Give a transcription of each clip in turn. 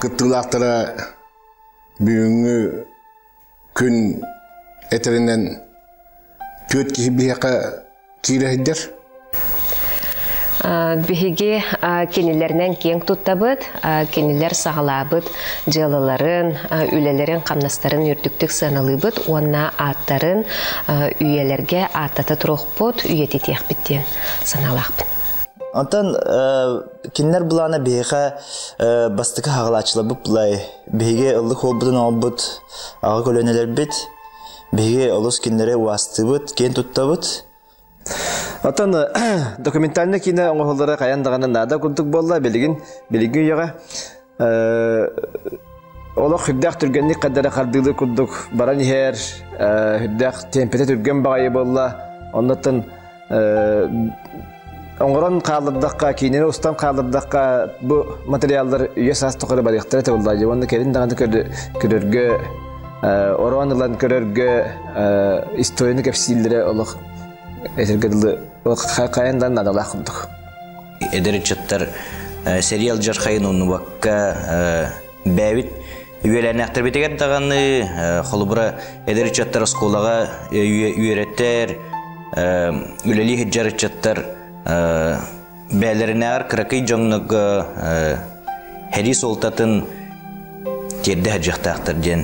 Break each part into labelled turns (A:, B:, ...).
A: Кыттыылаахтара бүгүҥҥү күн этэринэн түөрт киһи биһиэхэ киирэһийдэр. Биһиги кинилэринэн киэҥ туттабыт, кинилэр саҕалаабыт дьыалаларын, үлэлэрин-хамнастарын үрдүктүк сыаналыыбыт уонна ааттарын үйэлэргэ ааттата туруохпут, үйэтитиэхпит диэн санаалаахпын. Онтон Кинилэр былаана биһиэхэ бастакы хаҕалааччыларбыт былай биһиги ыллык холбутун оҥорбут аҕа көлүөнэлэрбит биһиги олус кинилэри уастыыбыт, киэн туттабыт. Оттон документальнай киинэ оҥоһуллара хайаан даҕаны наада курдук буолла билигин билиҥҥи үйэҕэ олох үрдээх түргэнник каддары хардыылы курдук баран иһэр үрдээх темпэтэ түргэн баҕайы буолла оннуттан оҥорон хаалырдахха киинэни устан хаалырдахха бу материаллар үйэ саас тухары барыахтара табыллаадьы уонна кэлин даҕаны көрөргө ороон ылан көрөргө историяны кэпсииллэрэ олох этэргэ дылы хайан да наадалаах курдук эдэр ыччаттар сериал дьархайын уннубакка бээбит үөлээннээхтэрбитигэр даҕаны холобура эдэр ыччаттар оскуолаҕа үөрэттэр үлэлии сылдьар ыччаттар бээлэринээҕэр кыракый дьоннорго һэрии суолтатын тиэрдэ сылдьыахтаахтар диэн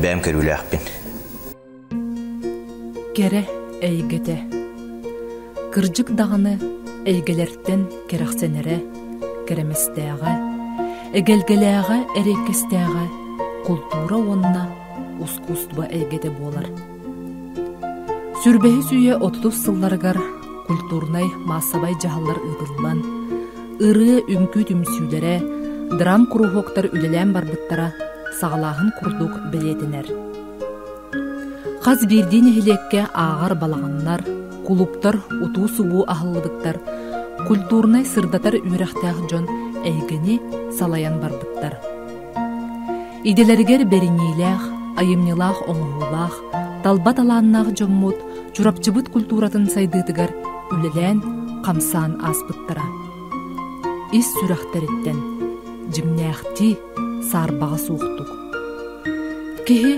A: бэйэм көрүүлээхпин Кэрэ эйгэтэ Кырдьык даҕаны эйгэлэртэн кэрэхсэнэрэ, кэрэмэстээҕэ, эгэлгэлээҕэ, эриэккэстээҕэ култуура уонна ускуустуба эйгэтэ буолар. Сүрбэһис үйэ отутус сылларыгар культурнай-маассабай дьаһаллар ыытыллан, ырыа үҥкүү түмсүүлэрэ, драм-куруһуоктар үлэлээн барбыттара саҕалааһын курдук бэлиэтэнэр. Хас биирдии нэһилиэккэ ааҕар балаҕаннар, кулуптар утуу-субуу аһыллыбыттар, культурнай сырдатар үөрэхтээх дьон эйгэни салайан барбыттар. Идэлэригэр бэриниилээх, айымньылаах оҥоһуулаах, талба талааннаах дьоммут Чурапчыбыт культуратын сайдыытыгар үлэлээн, хамсаан ааспыттара. Ис сүрэхтэриттэн, дьиҥнээхтии саарбаҕа суохтук киһи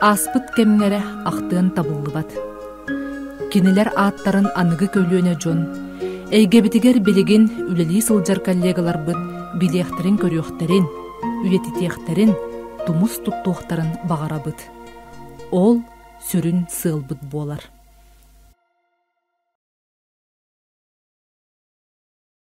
A: ааспыт кэмҥэрэ ахтыан табыллыбат кинилэр ааттарын аныгы көлүөнэ дьон эйгэбитигэр билигин үлэлии сылдьар коллегаларбыт билиэхтэрин көрүөхтэрин үйэтитиэхтэрин тумус туттуохтарын баҕарабыт ол сүрүн сыалбыт буолар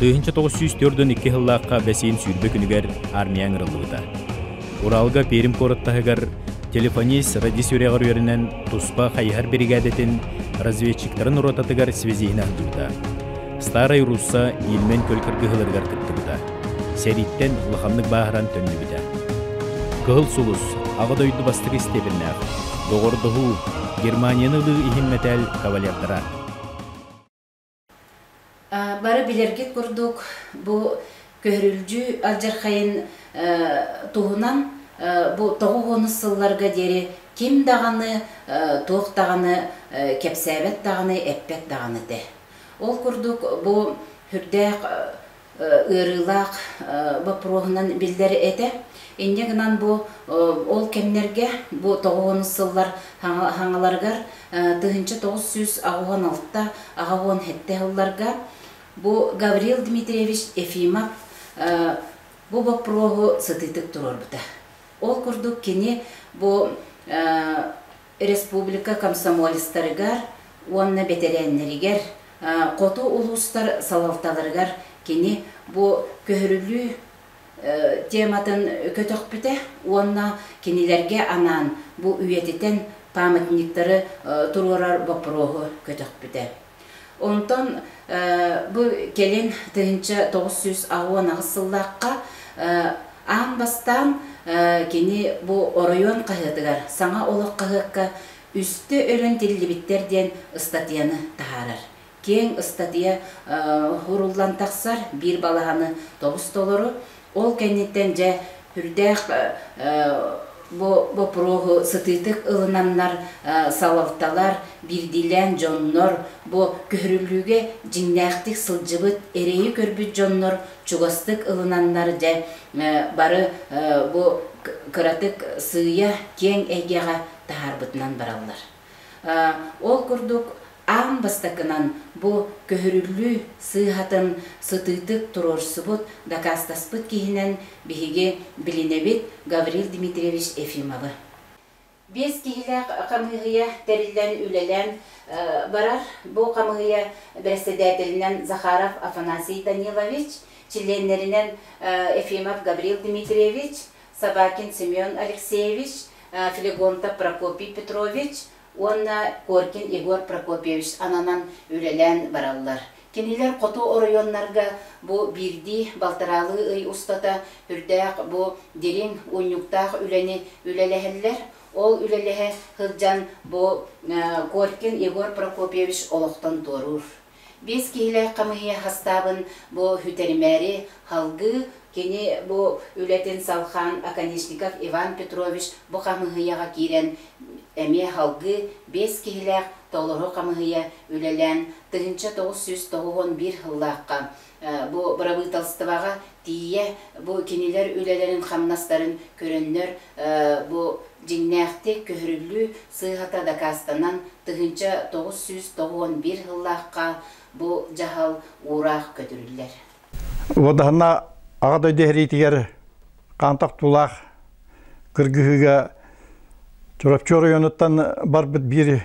A: Тыһыынча тоҕус сүүс төрдүн икки сыллаахха бэсиин сүүрбэ күнүгэр армия ыҥырыллыбыта. Уралга Пермь куорат таһыгар телефонист радист үрэҕэр үөрэнэн туспа хайыһар биригээдэтин разведчиктарын ротатыгар связиһин аһдыыта. Старай Русса Ильмен көл кыргыһыларыгар кыттыбыта. Сэрииттэн улаханнык бааһыран төннүбүтэ. Кыһыл сулус Аҕа дойду бастакы истиэбиннээх доҕордоһуу Германияны ылыы иһин мэтээл кавалердара Бары билэргит курдук, бу көһөрүлдьү алдьархайын туһунан бу тоҕус уонус сылларга диэри ким даҕаны, туох даҕаны кэпсээбэт даҕаны, эппэт даҕаны этэ. Ол курдук бу үрдээх ыарыылаах боппуруоһунан биллэр этэ. Инньэ гынан бу ол кэмнэргэ, бу тоҕуонус сыллар хаҥаларыгар тыһыынча тоҕус сүүс аҕыс уон алта аҕа уон сэттэ сылларга бу Гаврил Дмитриевич Ефимов бу боппуруоһу сытыытык туруорбута. Ол курдук кини бу Республика комсомолецтарыгар уонна бэтэрээннэригэр, хоту улуустар салалталарыгар кини бу көһөрүлүү тематын көтөхпүтэ уонна кинилэргэ анаан бу үйэтитэн памятниктары туруорар боппуруоһу көтөхпүтэ. Онтон бу кэлин тыһыынча тоҕус сүүс уон аҕыс сыллаахха аан бастаан кини бу оройуон хаһыатыгар саҥа олох хаһыакка үстэ өрөн тиллибиттэр диэн ыстатыйаны таһаарар. Киэҥ ыстатыйа ууруллан тахсар биир балаһаны тобус-толору Ол кэнниттэн дьэ үрдээх бу боппуруоһу сытыытык ылынамнар салалталар, биирдиилээн дьоннор, бу көһөрүллүүгэ дьиҥнээхтик сылдьыбыт, эрэйи көрбүт дьоннор чугастык ылынаннар дьэ бары бу кыратык сыыйа киэҥ эйгэҕэ таһаарбытынан бараллар. Ол курдук, аан бастакынан бу көһөрүллүү сыыһатын сытыытык туруорсубут, дакаастаспыт киһинэн биһиги билинэбит Гаврил Дмитриевич Ефимовы. Биэс киһилээх хамыыһыйа тэриллэн, үлэлээн барар. Бу хамыыһыйа бэрэссэдээтэлинэн Захаров Афанасий Данилович, чилиэннэринэн Ефимов Гаврил Дмитриевич, Собакин Семен Алексеевич, Флегонтов Прокопий Петрович уонна Коркин Егор Прокопьевич ананан үлэлээн бараллар. Кинилэр хоту оройуоннарга бу биирдии балтараалыы ый устата үрдээх бу дириҥ унньуктаах үлэни үлэлэһэллэр. Ол үлэлэһэ сылдьан бу Коркин Егор Прокопьевич олохтон туоруур. Биэс киһилээх хамыыһыйа хастаабын бу үтэримээри салгыы, кини бу үлэтин салхаан Оконешников Иван Петрович бу хамыыһыйаҕа киирэн эмиэ салгыы биэс киһилээх толору хамыыһыйа үлэлээн тыһыынча тоҕус сүүс тоҕус уон биир сыллаахха Бу бырабыыталыстыбаҕа тиийэ бу кинилэр үлэлэрин-хамнастарын көрөннөр, бу дьиҥнээхтик көһөрүллүү сыыһата дакаастанан, тыһыынча тоҕус сүүс тоҕуон биир сыллаахха бу дьаһал уураах көтүрүллэр. Уодаһына Аҕа дойду иһэриитигэр Хаантах тулаах кыргыһыыга Чурапчы оройуонуттан барбыт биир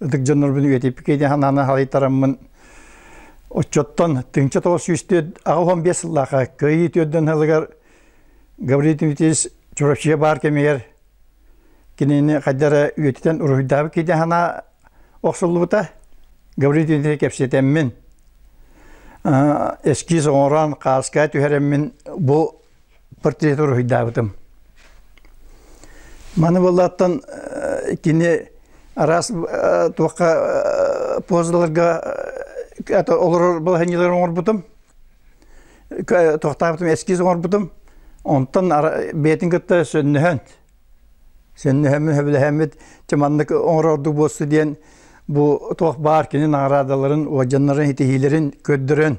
A: ытык дьоннорбун үйэтиппиккэ диэн санааны халайтараммын отчоттон тыҥча тоҕус сүүс түөрт аҕа уһун биэс сыллаахха кыайыы түөрдөн сылыгар Гаврил Тимофеевич Чурачия баар кэмигэр кинини хайдара үйэтитэн уруһуйдаабыт киди санаа охсуллубута Гаврил Тимофеевич кэпсэтэммин эскиз оҥорон хааска түһэрэммин бу портреты уруһуйдаабытым. Маны буоллааттан кини араас туохха позаларга олорор балаһанньалары оҥорбутум. Тохтаабытым эскиз оҥорбутум. Онтон бэйэтин кытта сөннөһөн сөннөһөммүт сөбүлэһэммит чыманнык оҥорор ордук буолсу диэн бу туох баар кини наҕараадаларын уодьаннарын ситиһиилэрин көрдөрөн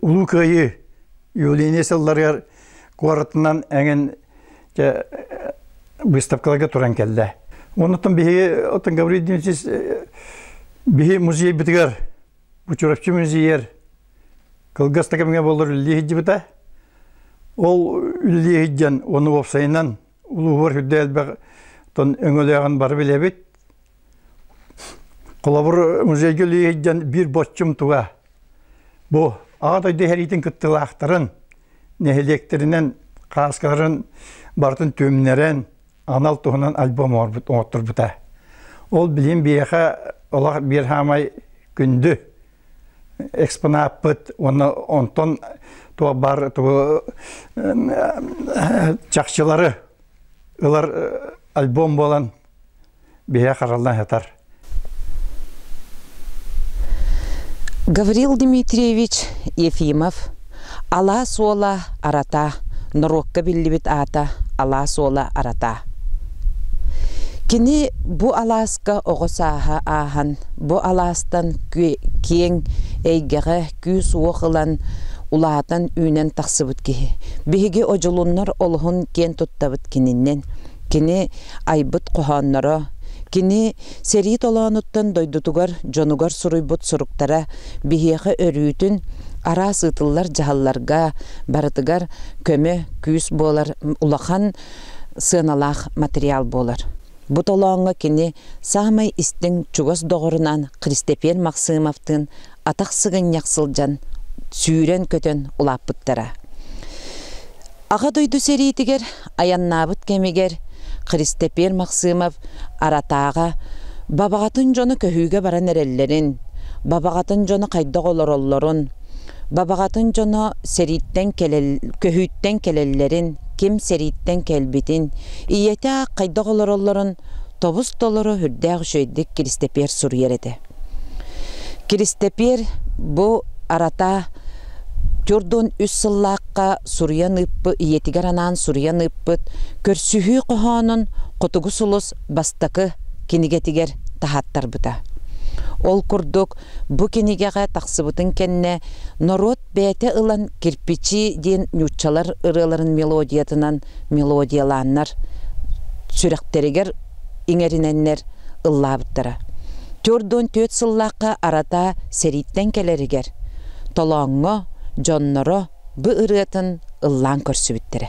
A: Улуу Кыайыы июль-июнь сылларыгар куоратынан эҥин выставкаларга туран кэллэ. Оннуттан биһиги оттон Гаврил Дмитриевич биһи музейбитигэр Бучуровчи музейер кылгас такымҥа болор үллии сылдьыбыта. Ол үллии сылдьан, оны уопсайынан улууһугар үрдэ элбэх тон өҥөлөөҕүн бары билэбит. Холобур, музейга үлэлиһиттэн биир боччум туга бу Аҕа дойду иһэриитин кыттыылаахтарын, нэһилиэктэринэн хааскаларын барытын түмнэрэн, анал туһунан альбом оҥотторбута. Ол билим биэхэ олох биир хаамай күндү экспонаппыт уонна онтон туох баар тугу чахчылары ылар альбом буолан биһэ хараллан сытар Гаврил Дмитриевич Ефимов Алаас уола арата норуокка биллибит аата Алаас уола арата Кини бу алааска оҕо сааһа ааһан бу алаастан киэҥ эйгэҕэ күүс-уох ылан улаатан үүнэн тахсыбыт киһи биһиги одьулуннар олуһун киэн туттабыт кининнэн Кини айбыт хоһоонноро, кини сэрии толоонуттан дойдутугар, дьонугар суруйбут суруктара биһиэхэ өрүүтүн араас ыытыллар дьаһалларга барытыгар көмө, күүс буолар улахан сыаналаах материал буолар. Бу толооҥҥо кини саамай истиҥ чугас доҕорунаан Кристэпиэн Максымовтыын атах сыгынньах сылдьан сүүрэн-көтөн улааппыттара. Аҕа дойду сэриитигэр айаннаабыт кэмигэр Христэпиэр Максымов аратааҕа бабаҕатын дьоно көһүүгэ баран эрэллэрин, бабаҕатын дьоно хайдах олороллорун, бабаҕатын дьоно сэрииттэн кэлэл, көһүүттэн кэлэллэрин, ким сэрииттэн кэлбитин, ийэтэ аах хайдах олороллорун тобус-толору үрдээх үчүгэйдик Киристэпиэр суруйар этэ. Киристэпиэр бу арата Төрт уон үс сыллаахха суруйан ыыппыт, ийэтигэр анаан суруйан ыыппыт көрсүһүү хоһоонун Хотугу сулус бастакы кинигэтигэр таһааттарбыта. Ол курдук, бу кинигэҕэ тахсыбытын кэннэ норуот бэйэтэ ылан «Кирпичи» диэн нууччалар ырыаларын мелодиятынан мелодиялааннар сүрэхтэригэр иҥэринэннэр ыллаабыттара. Түөрт уон түөрт сыллаахха арата сэрииттэн кэлэригэр Толооҥҥо дьонноро бу ырыатын ыллаан көрсүбүттэрэ.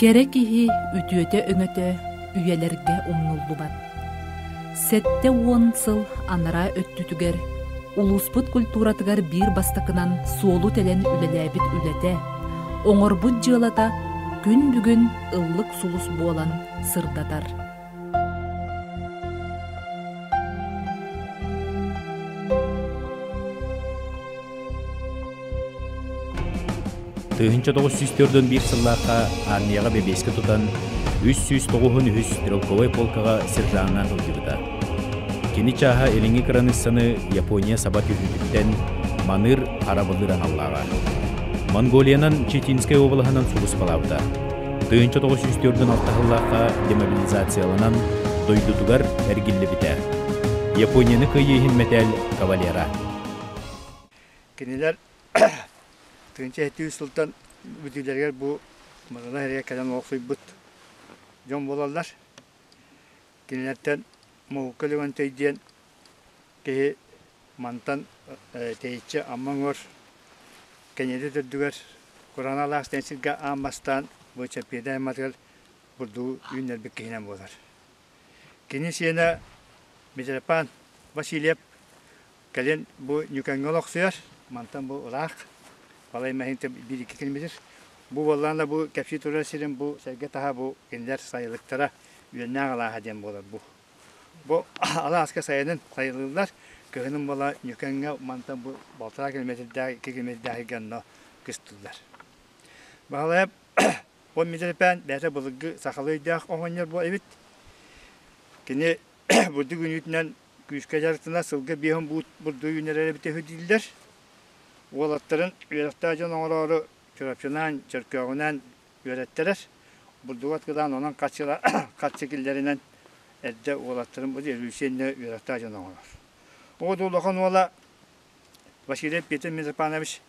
A: Кэрэ киһи үтүөтэ-өҥөтө үйэлэргэ умнуллубат. Сэттэ уон сыл анараа өттүтүгэр улууспут культуратыгар биир бастакынан суолу тэлэн үлэлээбит үлэтэ, оҥорбут дьыалата күн бүгүн ыллык сулус буолан сырдатар. Тыһынча тоғыз сүүс төрдөн биир сыллаахха армияҕа бэбиэскэ тутан, үс сүүс тоҕуһун үһүс стрелковай полкаҕа сержаннаан сылдьыбыта. Кини чааһа илиҥҥи кыраныыссаны Япония саба түһүүтүттэн Маныыр арабылыыр аналлааҕа. Монголиянан Читинскай уобалаһынан сулуспалаабыта, тыһыынча тоҕус сүүс төрдүн алтаһыллаахха демобилизацияланан дойдутугар эргиллибитэ. Японияны кыйыы иһин мэтээл кавалера. Кинилэр тыһыынча жеті сылтан бүтүүлэригэр бу Мадана эрийэ кэлэн олохсуйбут дьон буолаллар. Кинилэртэн Муҥука Леонтий диэн киһи мантан тэйиччи Амма уҥуор Кэньиэдэс үрдүгэр Кураналаах диэн сиргэ аан бастаан бочапиэдай айматыгар бурдугу үүннэрбит киһинэн буолар. Кини сиэнэ Митрофан Васильев Кэлин бу Ньүкэҥҥэ олохсуйар, мантан бу ыраах, балай мэһиинтэн биир-икки күн билир. Бу буоллаҕына да бу кэпсии турар сирин бу сэргэ таһа бу кинилэр сайылыктара үөннээх алааһа диэн буолар бу. Бу алааска сайынын сайылыыллар, кыһынын буола Ньүкэҥҥэ мантан бу балтараа километрдээх, iki километрдээхи гонно кыстыллар. Баһылайап он метрпээн бээтэ былыгы сахалыы өйдөөх оһонньор бу эбит. Кини бурдук үнүүтүнэн Күүскэ дьарыктанар сылга биэс он бурдук үүнэрэрэ бүтэһи дииллэр. Уолаттарын үөрэхтээх дьон оҥороору чурапчылаан, Чөркөөҕүнээн үөрэттэрэр. Бурдугу аткылаан онон хаччы киллэринэн эрдэ уолаттарын бу Эргүүсиэннэ үөрэхтээх дьон оҥорор. Оо да улахан уола Василий Петр Митрофанович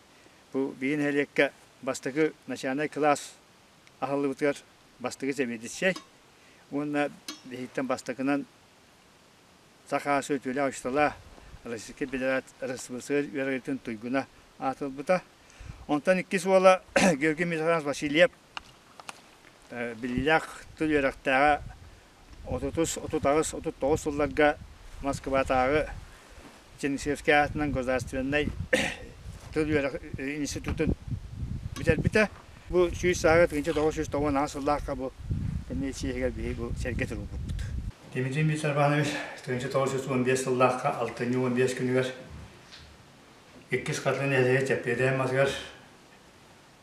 A: бу биһи нэһилиэккэ бастакы начальнай кылаас аһыллыбытыгар бастакы сэбиэдиссэй уонна биһиттэн бастакынан Саха сүтүөлээх-ыстала Российскай Федерация үөрэҕитин туйгуна аатырбыта. Онтон иккис уола Георгий Михайлович Васильев биллиилээх тыл үөрэхтээҕэ отутус, отут аҕыс, отут тоҕус сылларга Москватааҕы Чернышевскай аатынан государственнай тыл үөрэх институтун бүтэрбитэ. Бу сүүс саага тыынча тоҕус сүүс тоҕуон аҕыс сыллаахха бу комиссиягар биһиги бу сэргэ турбуппут. Дмитрий Дмитриевич Арбанович тыынча тоҕус сүүс уон биэс сыллаахха алтынньы уон биэс күнүгэр иккис хатыны нэһилиэгэ Чэппиэдээн матыгар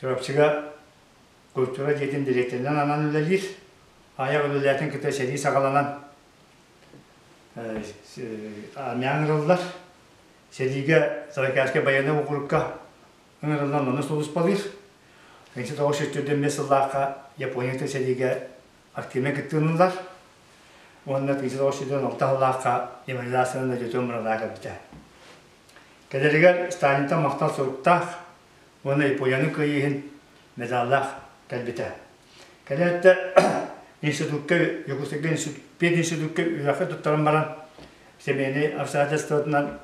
A: Чурапчыга культура дьиэтин дириэктэринэн анан үлэлиир. Айах үлэлээтин кытта сэрии саҕаланан армян ырыллар. Сэриигэ Саракайскай байыаннай округка ыҥырыллан манна сулуспалыыр. Ынчы тоҕус жүз төрдөн бес сыллаахха Японията сэриигэ активнай кыттыыллар. Уонна ынчы тоҕус жүздөн алта сыллаахха деморализациянан Дьөтөн мурадаа кэлбитэ. Кэлэригэр Сталинтан махтал суруктаах уонна Японияны кыайыыһын медаллаах кэлбитэ. Кэлээттэ институкка, Югославия пединститукка үөрэххэ туттаран баран, семейнай обстоятельствотынан,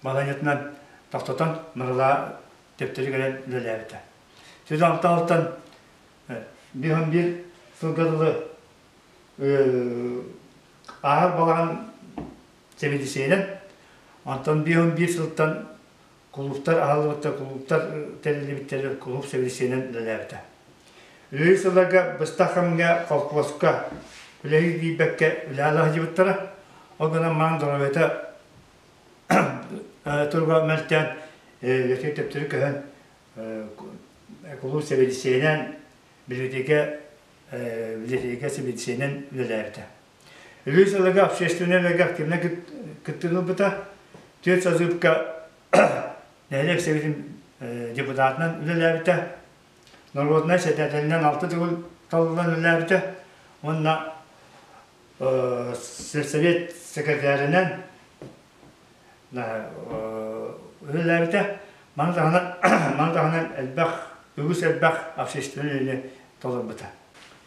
A: балаһыанньатынан тохтотон, Нурыла төптөрү кэлэн үлэлээбитэ. Сүдэ алталыттан биир он биир сылга дылы ааһар балаҕан сэмидисиэнэн, онтон биир он биир сылтан Кулууптар аһыллыбыттар, кулууптар тэриллибиттэрин кулууп сэбиэдиссэйинэн үлэлээбитэ. Үлэлии сылларга быстах кэмҥэ холкуоска үлэһит тиийбэккэ үлэҕэ сылдьыбыттара. Ол гынан маҥан доруобайата туруга мөлтөөн үлэтин төптөрү көһөн кулууп сэбиэдиссэйинэн, бэлиитикэ сэбиэдиссэйинэн үлэлээбитэ. Үһүс ылыга общественнай ылыга активнай кыттыыны ылбыта. Түөрт сазыпка нэһилиэк сэбитин депутатынан үлэлээбитэ. Народнай сэтээтэлинэн алты төгүл талылан үлэлээбитэ. Уонна сельсовет секретарынан үлэлээбитэ. Маны таһынан маны таһынан элбэх үгүс элбэх общественнай үлэни толорбута.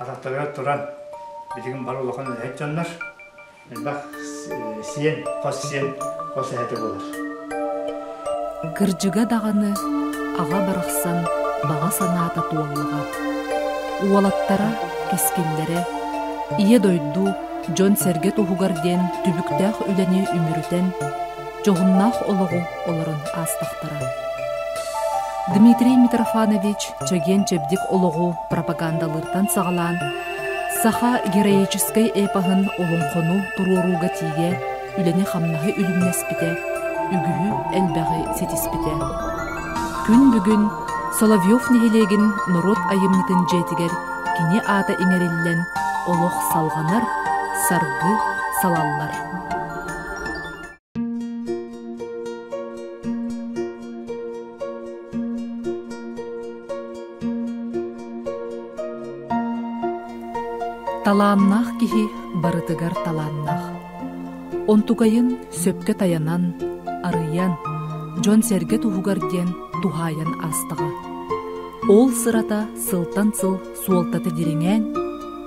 A: атахтарыгар туран билигин бары улахан үлэһит дьоннор элбэх сиэн хос сиэн хос эһэтэ буолар кырдьыга даҕаны аҕа барахсан баҕа санаата туоллаҕа уолаттара кискиллэрэ ийэ дойду дьон-сэргэ туһугар диэн түбүктээх үлэни үмүрүтэн дьоһуннаах олоҕу олорон аастахтара. Дмитрий Митрофанович чэгиэн-чэбдик олоҕу пропагандалыыртан саҕалаан саха героическай эпоһын олоҥхону туруорууга тиийэ үлэни-хамнаһы үлүмнэспитэ, үгүһү элбэҕи ситиспитэ. Күн бүгүн Соловьев нэһилиэгин норуот айымньытын дьиэтигэр кини аата иҥэриллэн олох салҕанар, саргы салаллар. Талааннаах киһи барытыгар талааннаах. Онтугайын сөпкө таянан, арыйан, дьон-сэргэ туһугар диэн туһаайан аастаҕа. Ол сырата сылтан сыл суолтата дириҥээн,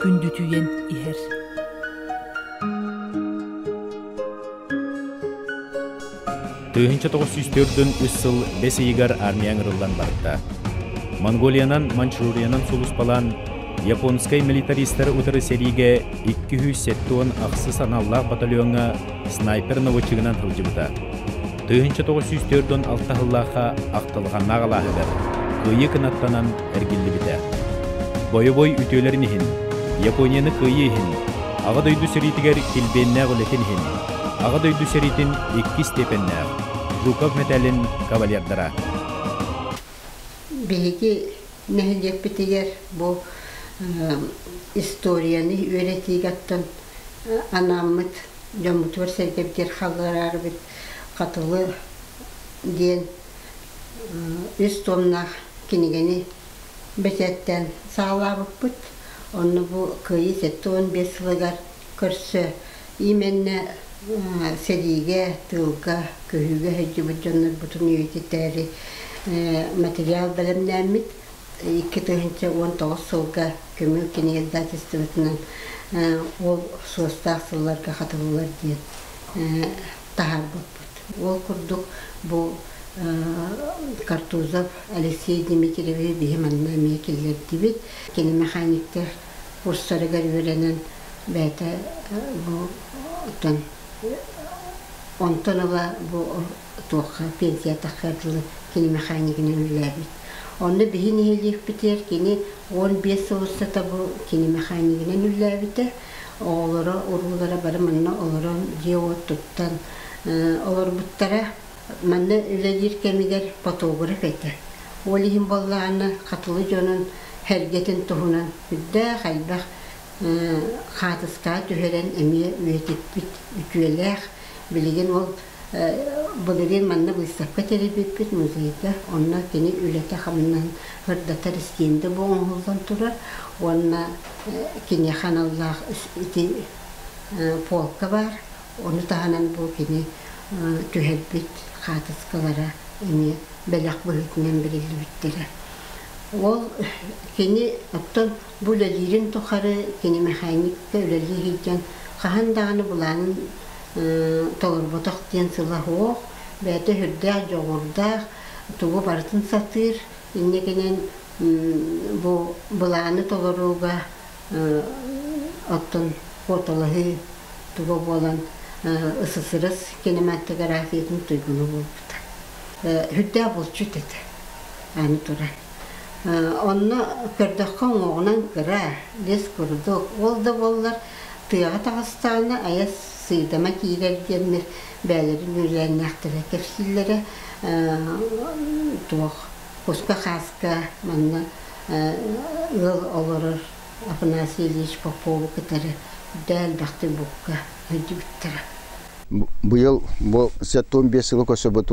A: күндүтүйэн иһэр. Тыһыынча тоҕус сүүс төрдүн үс сыл бэс ыйыгар армия ыҥырыллан барда. Монголиянан Манчжуриянан сулуспалаан японскай милитаристары утары сэриигэ 270 ахсыс аналлаах батальоҥҥа снайпер наводчигынан сылдьыбыта. Тыһыынча тоҕус сүүс төрт уон алта сыллаахха ахтылҕаннаах алааһыгар кыайыы кынаттанан эргиллибитэ. Бойобуой үтүөлэрин иһин, Японияны кыайыы иһин, Аҕа дойду сэриитигэр килбиэннээх үлэтин иһин Аҕа дойду сэриитин иккис степеннээх Жуков мэтээлин кавалердара Биһиги нэһилиэкпитигэр бу историяны үөрэтиигэттэн анааммыт дьоммутугар-сэргэбитигэр хаһыарарбыт Хатылы диэн үс томнаах кинигэни бэчээттээн саҕалаабыппыт. Онно бу кыайыы сэттэ уон биэс сылыгар көрсө Иимэннэ сэриигэ, тыылга, көһүүгэ сылдьыбыт дьоннорбутун үйэтитээри материал бэлэмнээммит. Икки тыһыынча уон тоҕус сылга көмүл кинигэ издательствотынан ол суостаах сылларга хатыллар диэн таһаарбыппыт. Ол курдук бу Картузов Алексей Дмитриевиһи биһи манна эмиэ киллэрдибит. Кини мэхэньиктэр курсарыгар үөрэнэн бэйэтэ буттан онтон ыла бу туохха пенсиятахха дылы кини механикынан үлэлээбит онно биһи нэһилиэкпитигэр кини уон биэс сыл устата бу кини механикынан үлэлээбитэ оҕолоро уруулара бары манна олорон дьиэ уот туттан олорбуттара Манна үлэлиир кэмигэр фотограф этэ. Ол иһин буоллаҕына Хатылы дьонун сэргэтин туһунан үрдээх элбэх хаартыскаҕа түһэрэн эмиэ үйэтиппит үтүөлээх. Билигин ол былырыын манна выставка тэрийбиппит музейга, онно кини үлэтэ-хамнаһын ырдатар истиэндэ бу оҥоһуллан турар уонна киниэхэ аналлаах ити полка баар. Ону таһынан бу кини түһэрбит хаартыскалара эмиэ бэлэх быһыытынан бэриллибиттэрэ. Ол кини оттон бу үлэлиирин тухары кини мэхэньикка үлэлии сылдьан хаһан даҕаны былаанын толорботох диэн сыла суох, бэйэтэ сүрдээх дьоҕурдаах, тугу барытын сатыыр, инникинэн бу былааны толорууга оттон куоталаһыы туга буолан ССРС кинематографиятын туйгуна буолбута. Сүрдээх булчут этэ аны туран. Онно көрдөххө уҥуоҕунан кыра, лес курдук. Ол да буоллар тыаҕа таҕыстаҕына айас сыыдама киирэр диэннэр бэйэлэрин үөлээннээхтэрэ кэпсииллэрэ. Туох куска-хааска манна ыал олорор Афанасий Ильич Попову кытары үрдээн элбэхтик букка өйдүүбүттэрэ. Быйыл бу сэтуун биэс сылы көрсөбүт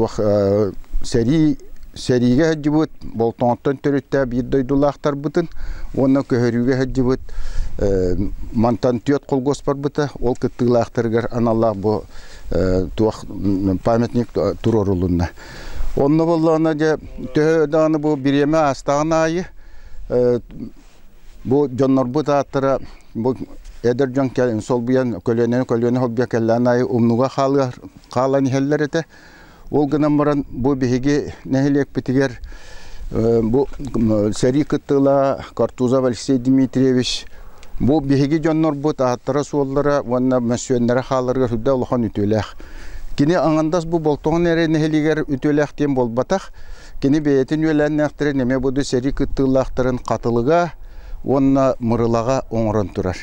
A: сэрии сэриигэ сылдьыбыт болтоҥоттон төрүттээх биир дойдулаахтарбытын уонна көһөрүүгэ сылдьыбыт мантан түөрт колгоспарбыта ол кыттыылаахтарыгар аналлаах бу туох памятник туруорулунна Онно боллоҕуна дьэ төһө даҕаны бу бириэмэ аастаҕын аайы бу дьоннорбут ааттара бу эдэр дьон кэлэн солбуйан көлүөнэ көлүөнэ холбуйа кэллэҕин аайы умнуга хаалыар хаалан иһэллэр этэ. Ол гынан баран бу биһиги нэһилиэкпитигэр Бу сэрии кыттыылаһа Картузов Алексей Дмитриевич бу биһиги дьоннорбут ааттара-суоллара уонна мөссүөннэрэ хааларыгар үрдэ улахан үтүөлээх. Кини Ангандас бу Болтоҕон эрэ нэһилиэгэр үтүөлээх диэн буолбатах. Кини бэйэтин үөлээннээхтэрин эмиэ буду сэрии кыттыылаахтарын хатылыга уонна мырылаҕа оҥорон турар.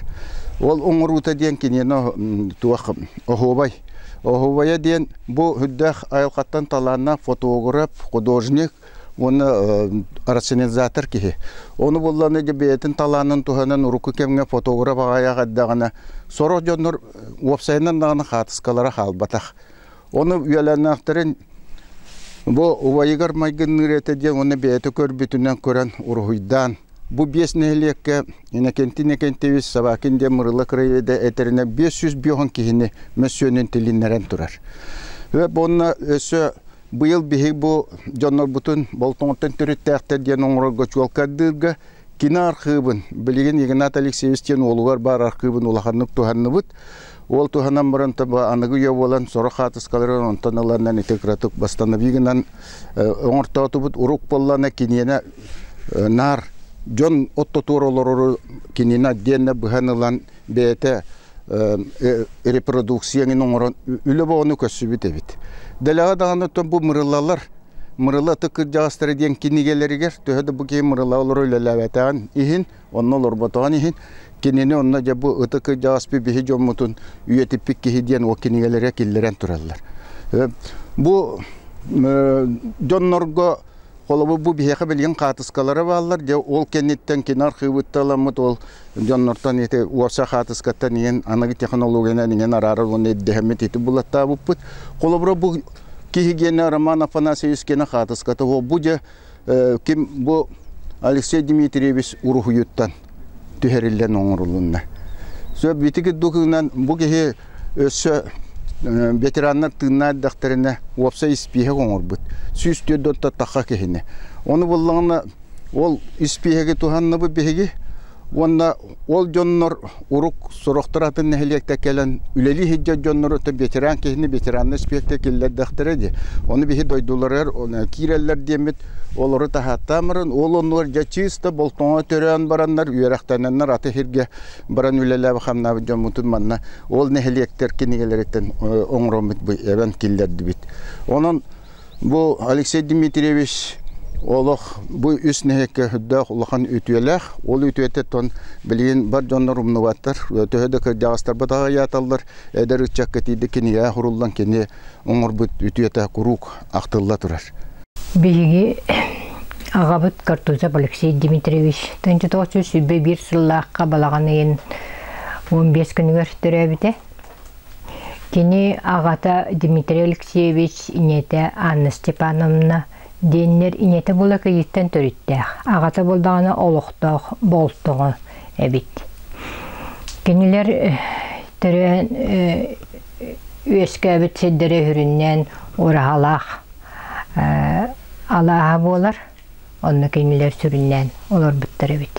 A: Ол оҥоруута диэн киниэнэ туох оһуобай Оһуовайа диэн бу үрдээх айылҕаттан талааннаах фотограф, художник уонна рационализатор киһи. Ону булланы бэйэтин талаанын туһанан урукку кэмҥэ фотограф аҕайах эрдэҕинэ сорох дьоннор уопсайынан даҕаны хаартыскалара хаалбатах. Ону үйэлэннэхтэрин бу убайыгар майгынныыр этэ диэн уонна бэйэтэ көрбүтүнэн көрөн уруһуйдаан Бу биэс нэһилиэккэ Иннокентий Собакин диэн Мырыла краеведа этэринэ биэс сүүс биоһун киһини мөссүөнүн тилиннэрэн турар. Уонна өссө быйыл биһиги бу дьоннорбутун Болтоҥоттон төрүттээхтэр диэн оҥорорго чуолкайдыырга кини архыыбын, билигин Игнат Алексеевич диэн уолугар баар архыыбын улаханнык туһанныбыт. Ол туһанан баран таба аныгы үйэ буолан сорох хаатыскаларын онтон ыланнан ити кыратык восстанови гынан оҥортоотубут урук боллана киниэнэ наар дьон оттотуор олорору кинини отдельно быһан ылан бэйэтэ репродукцияңын оҥорон үлэ боҕону көссүбүт эбит. Дэлэҕэ даҕаны оттон бу мырылалар мырыла ытык кырдьаҕастара диэн кинигэлэригэр төһө да бу киһи мырыла олору үлэлээбэтэҕин иһин Онно олорботоҕун иһин, кинини онно дьэ бу ытык кырдьаҕас биһи дьоммутун үйэтиппит киһи диэн ол кинигэлэрэ киллэрэн тураллар. Бу дьоннорго холобур бу биһиэхэ билигин хаатыскалара бааллар дьэ ол кэнниттэн кини архыыбытта аламмыт ол дьоннортон ити уопса хаатыскаттан иҥэн аныгы технологиянан иҥэн араарар уонна ирдэһэммит ити булаттаабыппыт холобура бу киһи гиэнэ Роман Афанасьевич киэнэ хаатыската бу дьэ ким бу Алексей Дмитриевич уруһуйуттан түһэриллэн оҥорулунна. Сөп битики дукынан бу киһи өссө ветераннар тыыннаах дэхтэринэ уопсай испииһэк оҥорбут. Сүүс түөрт отто тахха киһини. Ону буллаҕына ол испииһэги туһанныбы биһиги уонна Ол дьоннор урук сорохторо атын нэһилиэккэ кэлэн үлэлии сылдьар дьоннору то ветеран киһини ветераннай испиэктэ киллэрдэхтэрэ дии. Ону биһи дойдуларыгар киирэллэр диэммит олору таһааттаамарын ол оннугар дьэ чыыста болтоҥо төрөөн бараннар үөрэхтэнэннэр аты сиргэ баран үлэлээбит хамнаабыт дьоммутун манна ол нэһилиэктэр кинигэлэриттэн оҥороммут эбэн киллэрдибит. Онон Бу Алексей Дмитриевич олох бу үс нэһиэккэ үрдээх улахан үтүөлээх. Ол үтүөтэ билигин бар дьоннор умнубаттар. Төһө да кырдьаҕастарбыт аҕыйааталлар, эдэр ыччакка тиийдик кинигэҕэ суруллан кини оҥорбут үтүөтэ куруук ахтылла турар. Биһиги аҕабыт Картузов Алексей Дмитриевич Тынчытооччу сүбэ биир сыллаахха балаҕан ыйын 15 күнүгэр төрөөбүтэ. Кини аҕата Дмитрий Алексеевич, ийэтэ Анна Степановна диэннэр ийэтэ Былакыйыттан төрүттээх, аҕата буолдаҕына олохтоох Болтоҕо эбит. Кинилэр төрөөн үөскээбит сирдэрэ үһүрүннээн ураһалаах алааһа буолар, онно кинилэр сүрүннээн олорбуттар эбит.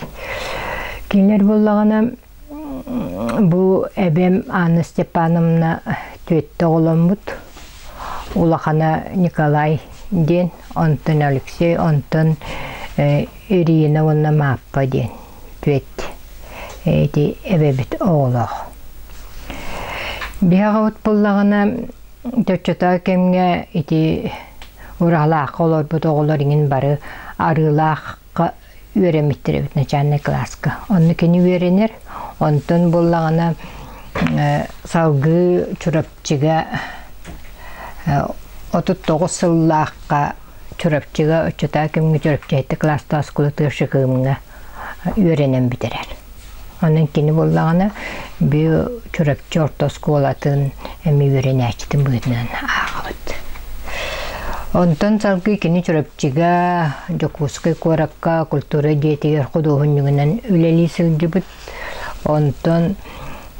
A: Кинилэр буоллаҕына Бу эбэм Анна Степановна түөртэ оҕоломмут. Улахана Николай диэн, онтон Алексей, онтон Ирина уонна Мааппа диэн түөрт ити эбэбит оҕолоох. Биһи аҕабыт буоллаҕына чоччотоо кэмҥэ ити Ураалаахха олорбут оҕолор иҥин бары Арыылаах үөрэммиттэр эбит начальнай кылааска. Онно кини үөрэнэр, онтон буоллаҕына салгыы Чурапчыга отут тоҕус сыллаахха Чурапчыга, оччотаа кэмҥэ Чурапчы кылаастаах оскуолатыгар Шыкымҥа үөрэнэн бүтэрэр. Онон кини буллаҕына бүү Чурапчы орто оскуолатын эми үөрэнээччитин быһыытынан ааҕабыт. Онтон салгыы кини Чурапчыга, Дьокуускай куоракка культура дьиэтигэр худуоһунньугунан үлэлии сылдьыбыт. Онтон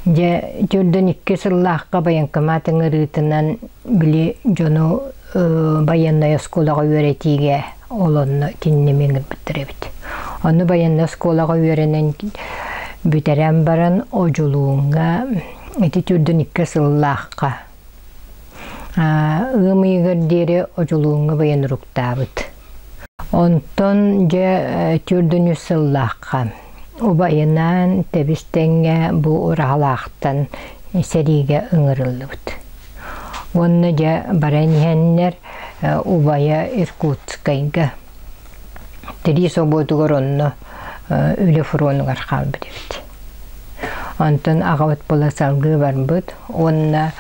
A: дьэ төрдөн икки сыллаахха байыанкамаат ыҥырыытынан били дьону байыаннай оскуолаҕа үөрэтиигэ олонно тиннэмин гырбыттар эбит. Ону байыаннай оскуолаҕа үөрэнэн бүтэрэн баран Одьулууҥҥа ити түрдүн икки сыллаахха ыам ыйыгар диэри Одьулууҥҥа байанруктаабыт. Онтон дьэ түрдүн үс сыллаахха убайынаан тэбис тэҥҥэ бу ураһалаахтан сэриигэ ыҥырыллыбыт. Уонна дьэ баран иһэннэр убайа Иркутскайга тирии собуотугар онно үлэ фронугар хаалбыт эбит. Онтон аҕабыт була салгыы барбыт уонна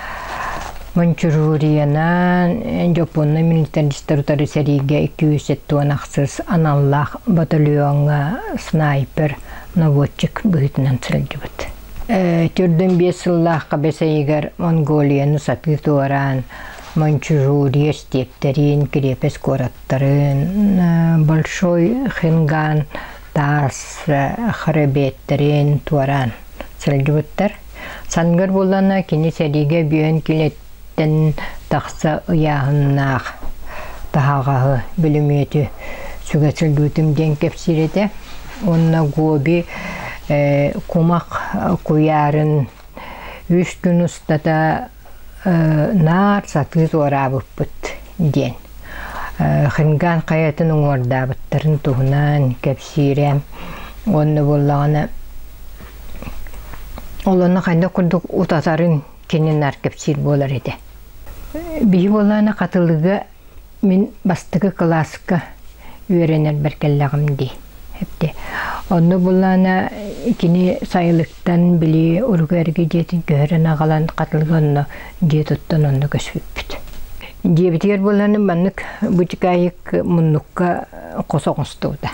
A: Манчуруриянан Дьопуонна милитаристар утары сэриигэ 207 уон ахсыс аналлаах батальоҥҥа снайпер, наводчик быһыытынан сылдьыбыт. Төрдүн биэс сыллаахха Бэсэйигэр Монголияны сатыы туораан Маньчжурия эстиэптэрин, кириэпэс куораттарын, Большой Хинган таас хребеттэрин туораан сылдьыбыттар. Сангыр буллана кини сэриигэ бүөн Эн тахса ыйааһыннаах таһаҕаһы, бүлүмүөтү сүгэ сылдьыбытым диэн кэпсиир этэ. Уонна Гоби кумах куйаарын үс күн устата наар сатыы туораабыппыт диэн. Хинган хайатын уҥуордаабыттарын туһунан кэпсиирэ. Уонна буоллаҕына, ол онно хайдах курдук утатарын кини наар кэпсиир буолар этэ. Биһи буолаана хатылыга мин бастакы кылааска үөрэнэрбэр кэллэҕим дии. Эпти. Онну булаана кини сайылыктан били уруга эрги диэтин көһөрөн агалан хатылыга онно дие туттан онно көсүппүт. Диэбитигэр булааны маннык бутикаайык муннукка хосоҕостууда.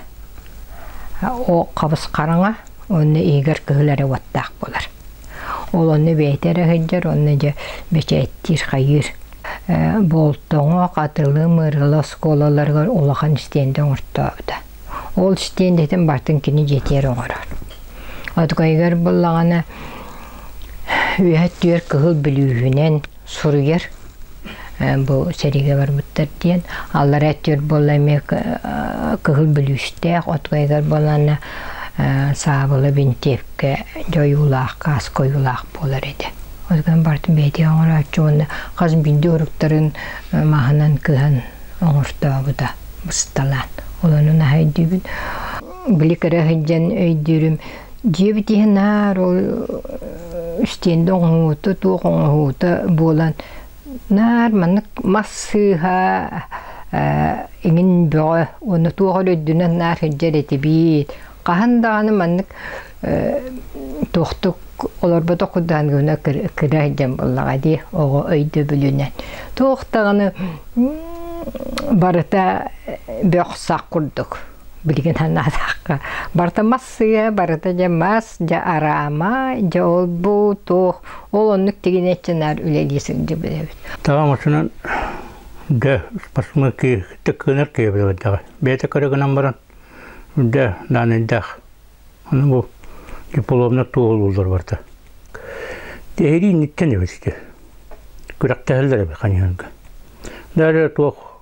A: О хабыс хараҥа, онно игер кыһылары уоттаах болар. Ол онно бэйэтэ эрэ сылдьар уонна дьэ бэчээттиир, хайыыр. Болтоҥо, Хатылы, Мырыла оскуолаларыгар улахан стенди оҥортообута. Ол стендитин бартын кини дьиэтигэр оҥорор. Отгойгар буллаҕына үөһэ түөрт кыһыл бүлүүһүнэн суруйар бу сэриигэ барбыттар диэн аллараа өттүгэр буолла эмиэ кыһыл бүлүүстээх отвоигар буоланна саабыла бинтиэпкэ дьойуулаах кааска ойуулаах буолар этэ озган барты бэйти оҥорооччу уонна хас бинди уруктарын маһынан кыһан оҥортообута бысталаан олону наһайдыыбын били кыра сылдьан өйдүүрүм Дьиэбит иһин наар ол стенда оҥоһуута, туох оҥоһуута буолан наар маннык мас сыыһа иҥин бөҕө уонна туох эрэ үрдүнэн наар сылдьар этибит. Хаһан даҕаны маннык туохтук олорботох курдук гына кыра сылдьан буоллаҕа дии оҕо өйдөбүлүнэн. Туох даҕаны барыта бөх-сах курдук. билигин анаатахха барыта массыына барыта дьэ мас дьэ араама дьэ ол-бу туох ол оннук тигинэччэнээр үлэлии сылдьыбыт эбит таҕам отунан дэ спортсмен кииртик кыынар киэбилэбэтэҕэ бэйэтэ көрөгүнэн баран дэ наанайдаах аны бу дипломна туолуулар барта тиһири инниттэн эбитти күрэхтэһэллэр эбит ханьанга дары туох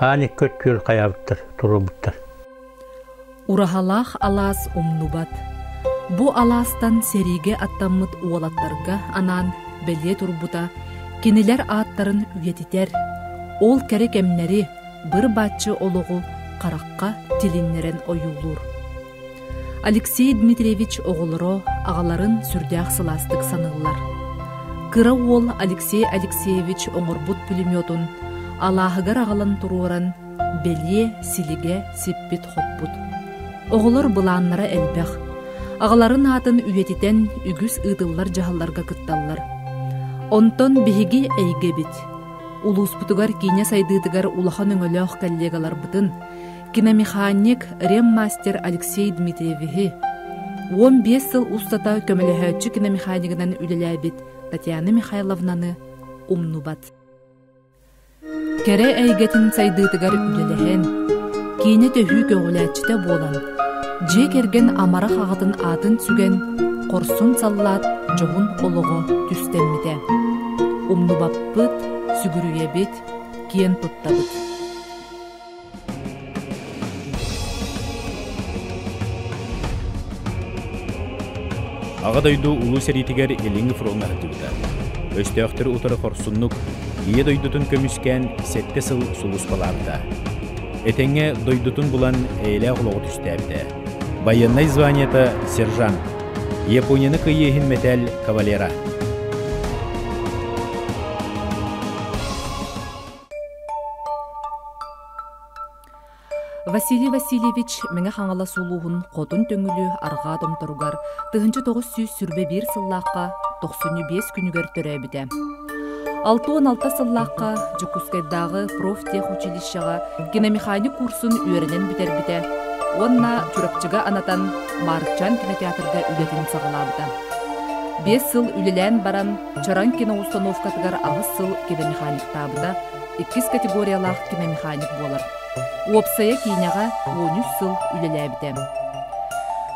A: аан икки өттүгэр хайаабыттар туруорбуттар Ураһалаах алаас умнубат. Бу алаастан сэриигэ аттаммыт уолаттарга анаан бэлиэ турбута кинилэр ааттарын үйэтитэр, ол кэрэ кэмнэри, быр-баччы олоҕу харахха тилиннэрэн ойуулуур. Алексей Дмитриевич оҕолоро, аҕаларын сүрдээх сылаастык саныыллар. Кыра уол Алексей Алексеевич оҥорбут пулеметун алааһыгар аҕалан туруоран, бэлиэ силигэ сиппит-хоппут. Оҕолор былааннара элбэх. Аҕаларын аатын үйэтитэн үгүс ыытыллар дьаһалларга кытталлар. Онтон биһиги эйгэбит. Улууспутугар киинэ сайдыытыгар улахан өҥөлөөх коллегаларбытын, киномеханик, рем-мастер Алексей Дмитриевиһи, уон биэс сыл устата көмөлөһөөччү киномеханигынан үлэлээбит Татьяна Михайловнаны умнубат. Кэрэ эйгэтин сайдыытыгар үлэлэһэн, киинэ төһүү көҕүлээччитэ буолан, дьиэ кэргэн амарах аҕатын аатын сүгэн, хорсун саллаат дьоһун олоҕо түстэммитэ. Умнубаппыт, сүгүрүйэбит, киэн туттабыт. Аҕа дойду Улуу сэриитигэр Илиҥҥи фроҥҥа сылдьыбыта. Өстөөхтөрү утары хорсуннук Ийэ дойдутун көмүскээн сэттэ сыл сулууспалаабыта. Этэҥҥэ дойдутун булан эйэлээх олоҕу түстээбитэ. Байыаннай званиета сержант, Японияны кыайыы иһин мэтээл кавалера. Василий Васильевич Мэҥэ-Хаҥалас улууһун хотун төҥүлү арҕаа томторугар тыһыынча тоҕус сүүс сүрбэ биир сыллаахха тохсунньу биэс күнүгэр төрөөбүтэ. Алта уон алта сыллаахха Дьокуускайдааҕы профтехучилищеҕа киномеханик курсун үөрэнэн бүтэрбитэ уонна Чурапчыга анатан Маарыкчаан кинотеатрга үлэтин саҕалаабыта. Биэс сыл үлэлээн баран Чараҥ киноустануовкатыгар аҕыс сыл киномеханиктаабыта, иккис категориялаах киномеханик буолар. Уопсайа киинэҕэ он үс сыл үлэлээбитэ.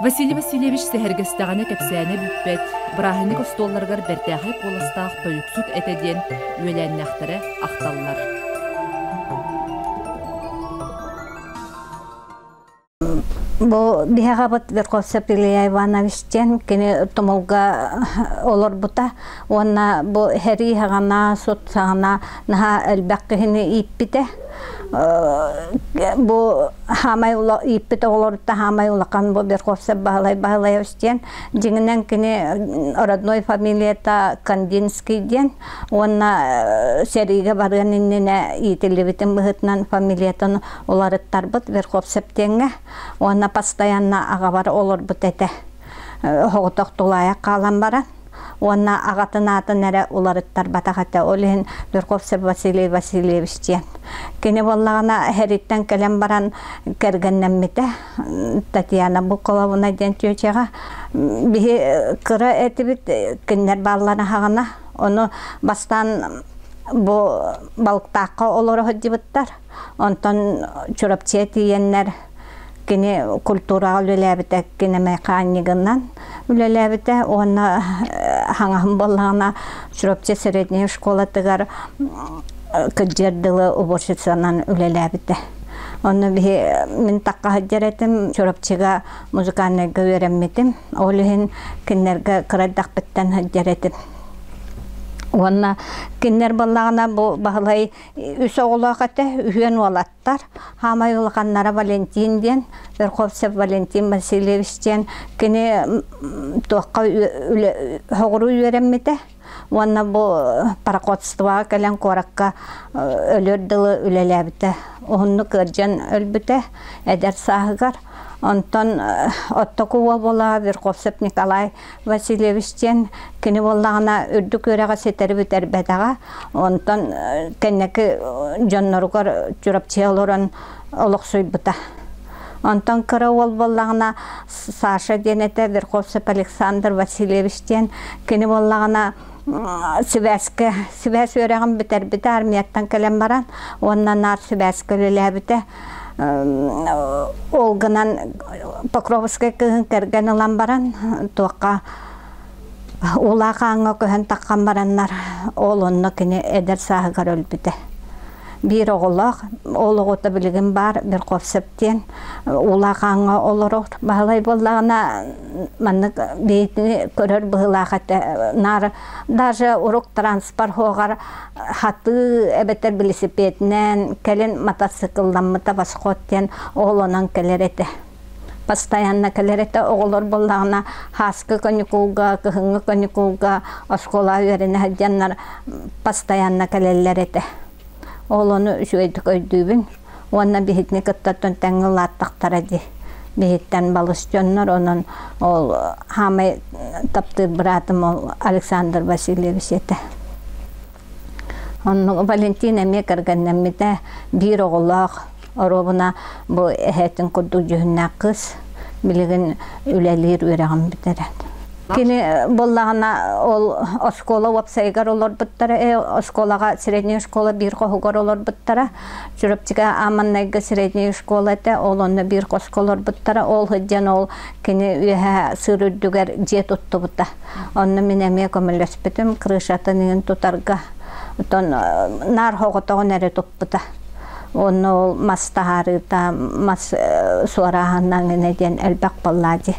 A: Василий Васильевич сэһэргэстэҕинэ кэпсээнэ бүппэт, бырааһынньык остуолларыгар бэртээхэй куоластаах тойуксут этэ диэн үөлээннээхтэрэ ахталлар. Бу биһэҕэбит Верховцев Илья Иванович диэн кини тумулга олорбута уонна бу һэрии-һаҕана, сут-саҕана наһаа элбэх киһини ииппитэ. Бу хаамай ула ииппит оҕолоруттан хаамай улахан бу Верховцев Баһылай Баһылаевич диэн дьиҥинэн кини родной фамилията Кандинский диэн уонна сэриигэ барыан иннинэ иитиллибитим быһыытынан фамилиятын уларыттарбыт верховсептеҥҥа уонна постоянно аҕабар олорбут этэ соҕотох тулаайах хаалан баран уонна аҕатын аатын эрэ уларыттарбатах этэ ол иһин верховцев василий васильевич диэн кини буоллаҕына эһэриттэн кэлэн баран кэргэннэммитэ Татьяна Букуловна диэн чүөчэҕэ биһи кыра этибит кинилэр бааллар аһаҕана ону бастаан бу балыктаахха олоро сылдьыбыттар онтон Чурапчыга тиийэннэр кини культураҕа үлэлээбитэ кинэмэхаанньыгынан үлэлээбитэ уонна хаҥаһым буоллаҕына Чурапчы средняя школатыгар кыдьыар дылы уборщицанан үлэлээбитэ онно биһи мин такка сылдьар этим Чурапчыга музыкальнайга үөрэммитим ол иһин кинилэргэ кыра эрдэхпиттэн сылдьар этим уонна кинилэр буоллаҕына бу Баһылай үс оҕолоох этэ үһүөн уол Дьокуускайтар хаамай улаханнара Валентин диэн, Верховцев Валентин Васильевич диэн кини туохха соҕуруу үөрэммитэ уонна бу пароходствоҕа кэлэн куоракка өлөр дылы үлэлээбитэ. Уһуннук ыалдьан өлбүтэ эдэр сааһыгар. Онтон оттоку уобула Верховцев Николай Васильевич диэн кини буоллаҕына үрдүк үөрэҕи ситэри бүтэрбэтэҕэ. Онтон кэнники дьонноругар Чурапчыга олорон олохсуйбута. Онтон кыра уол буоллаҕына Саша диэн этэ Верховцев Александр Васильевич диэн кини буоллаҕына сибээскэ сибээс үөрэҕин бүтэрбитэ армияттан кэлэн баран уонна наар сибээскэ үлэлээбитэ ол гынан Покровскай кыһын кэргэн ылан баран туохха улаахааҥҥа көһөн таххан бараннар ол онно кини эдэр сааһыгар өлбүтэ биир оҕолоох ол оҕото билигин баар Верховцев диэн улаахааҥҥа олорор баһылай буоллаҕына маннык бэйэтini көрөр быһылаах этэ наар даже урук транспорт Хатыы эбэтэр велосипединэн кэлин мотоциклламмыта восход диэн оҕолонон кэлэр этэ. Постоянно кэлэр этэ оҕолор буоллаҕына хааска каникулга, кыһыҥҥы каникулга оскуола үөрэнэ сылдьаннар постоянно кэлэллэр этэ. Оҕолону үчүгэйдик өйдүүбүн. уонна биһигини кыттартан тэҥҥэ улааттахтара дии биһиттэн балыс дьоннор онон ол хаамай таптыыр быраатым ол Александр Васильевич этэ онно Валентина эмиэ кэргэннэммитэ биир оҕолоох оруобуна бу эһэтин курдук дьүһүннээх кыс билигин үлэлиир үөрэҕин бүтэрэн кини буоллаҕына ол оскуола уопсайыгар олорбуттара э оскуолаҕа средняя школа биир хоһугар олорбуттара Чурапчыга Аманнайга средняя школа этэ, ол онно биир хоско олорбуттара, ол сылдьан ол кини үөһэ сыыр үрдүгэр дьиэ туттубута. Онно мин эмиэ көмөлөспүтүм, крышатын иҥин тутарга, оттон наар хоҕотоҕун эрэ туппута. Онно ол мас таһаарыыта, мас суорааһынан ини диэн элбэх буоллаа дии.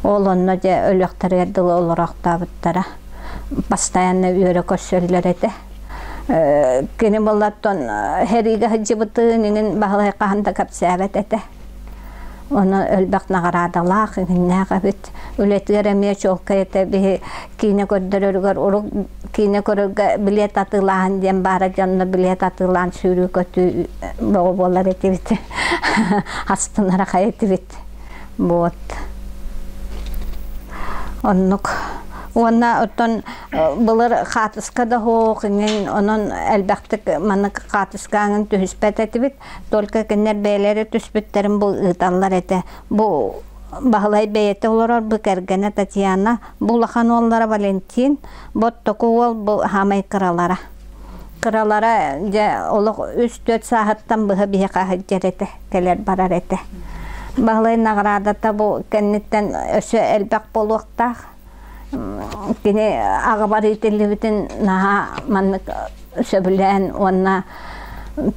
A: Ол онно дьэ өлүөхтэригэр дылы олорохтообуттара. Постоянно үөрэ көрсөллөр этэ. Кини боллортон хериге сылдьыбытын иҥин баһылай хаһан да кэпсээбэт этэ. Ону элбэх наҕараадалаах, иҥиннээх эбит. Үлэтигэр эмиэ чуолкай этэ биһи киинэ көрдөрөрүгэр урук киинэ көрөргө билет атыылааһын диэн баара дьонно билет атыылаан сүүрүү-көтүү бөҕө буолар этибит. Астынара хай этибит. Буот. Оннук. Уонна оттон Былыр хаатыска да оһох иҥин онон элбэхтик маннык хаатыска аҥын түһүспэт этибит. Только кинилэр бэйэлэрэ түспүттэрин бу ыыталлар этэ. Бу Баһылай бэйэтэ олорор бу кэргэнэ Татьяна, бу улахан уоллара Валентин, боттоку уол бу хаамай кыралара. Кыралара дьэ олох үс-төрт сааһыттан быһа биһиэхэ сылдьар этэ, кэлэр барар этэ. Баһылай наҕараадата бу кэнниттэн өссө элбэх буолуохтаах. Кини аҕабар иитиллибитин наһаа маннык сөбүлээн уонна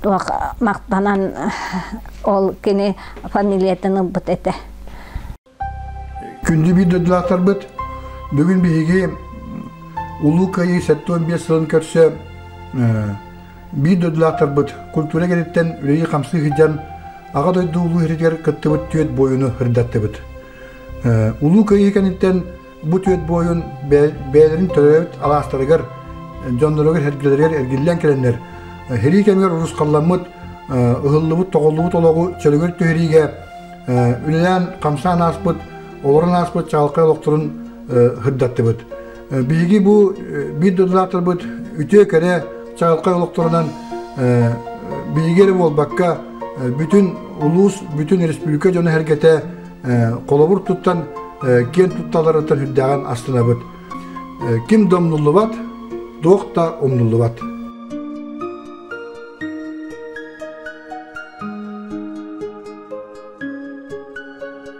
A: туох махтанан ол кини фамилиятын ылбыт этэ Күндү биир дойдулаахтарбыт, бүгүн биһиги Улуу Кыайыы сэттэ уон биэс сылын көрсө биир дойдулаахтарбыт культура кэнниттэн үлэлии-хамсыы сылдьан Аҕа дойду улуу иһитигэр кыттыбыт түөрт буойуну ырдаттыбыт. Улуу Кыайыы кэнниттэн бу түөт буойун бэйэлэрин төрөөбүт алаастарыгар, дьонноругар, эргэлэригэр эргиллэн кэлэннэр, һирии кэмигэр урусхалламмыт, ыһыллыбыт, тоҕуллубут олоҕу чөлүгэр түһэриигэ үлэлээн, хамсаан ааспыт, олорон ааспыт чаҕылхай олохторун һырдаттыбыт. Биһиги бу биир донатормут үтүө кэрэ чаҕылхай олохторунан биһиги эрэ буолбакка бүтүн улуус, бүтүн республика дьоно-сэргэтэ холобур туттан киэн тутталарыттан үрдээҕин астынабыт. Ким да умнуллубат, туох да умнуллубат.